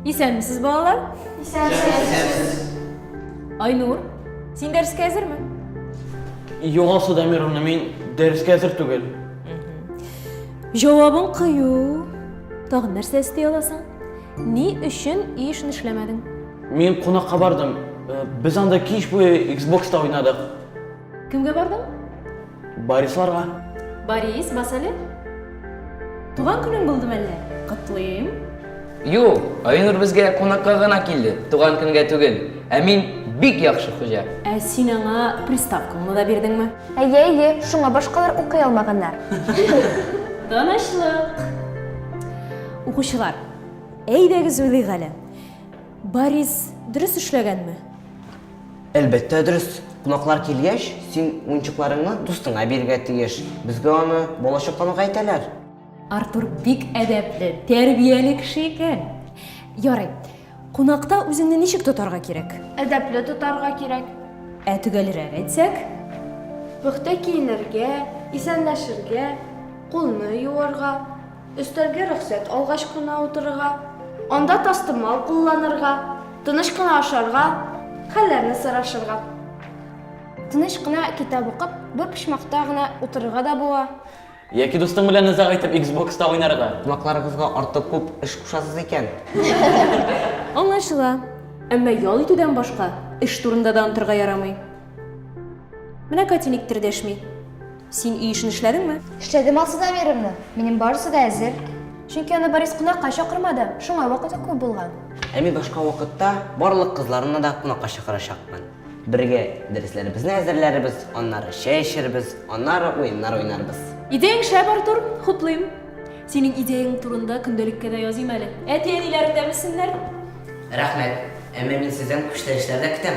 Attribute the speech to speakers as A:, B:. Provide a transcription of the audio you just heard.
A: Исәнмесез, балалар? Исәнмесез. Айнур, син дәрескә әзерме?
B: Югал Судамировна, мин дәрескә әзер түгел. Җавабың
A: кыю. Тагын нәрсә эсти аласың? Ни өчен өй эшен эшләмәдең? Мин кунакка
B: бардым. Э, без анда кич буе Xbox-та уйнадык. Кемгә
A: бардың? Барисларга.
B: Барис,
A: бас әле. Туган көнең булды мәллә? Котлыйм. Юк,
C: Айнур безгә кунакка гына килде, туган көнгә түгел. Ә мин бик яхшы хуҗа. Ә син аңа
A: приставкаңны да бирдеңме? Әйе, әйе, шуңа
D: башкалар укый алмаганнар. Тынычлык.
A: Укучылар, әйдәгез уйлыйк әле. Борис дөрес эшләгәнме? Әлбәттә
E: дөрес. Кунаклар килгәч, син уенчыкларыңны дустыңа бирергә тиеш. Безгә аны балачактан ук әйтәләр. Артур
A: бик әдәпле, тәрбияле кеше икән. Ярый. Кунакта үзеңне ничек тотарга кирәк? Әдәпле тотарга
D: кирәк. Ә төгәлрәк
A: әйтсәк? Пөхтә
D: киенергә, исәнләшергә, кулны юарга, Өстәлгә рөхсәт алгач кына утырырга, анда тастымал кулланырга, тыныч кына ашарга, хәлләрне сорашырга. Тыныч кына китап укып, бер почмакта гына утырырга да була. Яки дустың
B: белән озак итеп иксбокста уйнарга. Кунакларыгызга артык
E: күп эш кушасыз икән. Аңлашыла.
A: Әмма ял итүдән башка эш турында да онтырга ярамый. Менә Катя никтер дәшми. Син өй эшен эшләдеңме? Эшләдем Алсу Замировна.
D: Минем барысы да әзер. Чөнки аны Борис кунакка чакырмады, шуңа вакыты күп булган. Ә мин башка
E: вакытта барлык кызларны да кунакка чакырачакмын. Бергә дәресләребезне әзерләрбез, аннары чәй эчербез, аннары уеннар уйнарбыз. Идеяң шәп, Артур,
A: хуплыйм. Синең идеяң турында көндәлеккә дә языйм әле. Әти-әниләрең дә белсеннәр.
E: Рәхмәт. Әмма мин сездән күчтәнәчләр
A: дә
E: көтәм.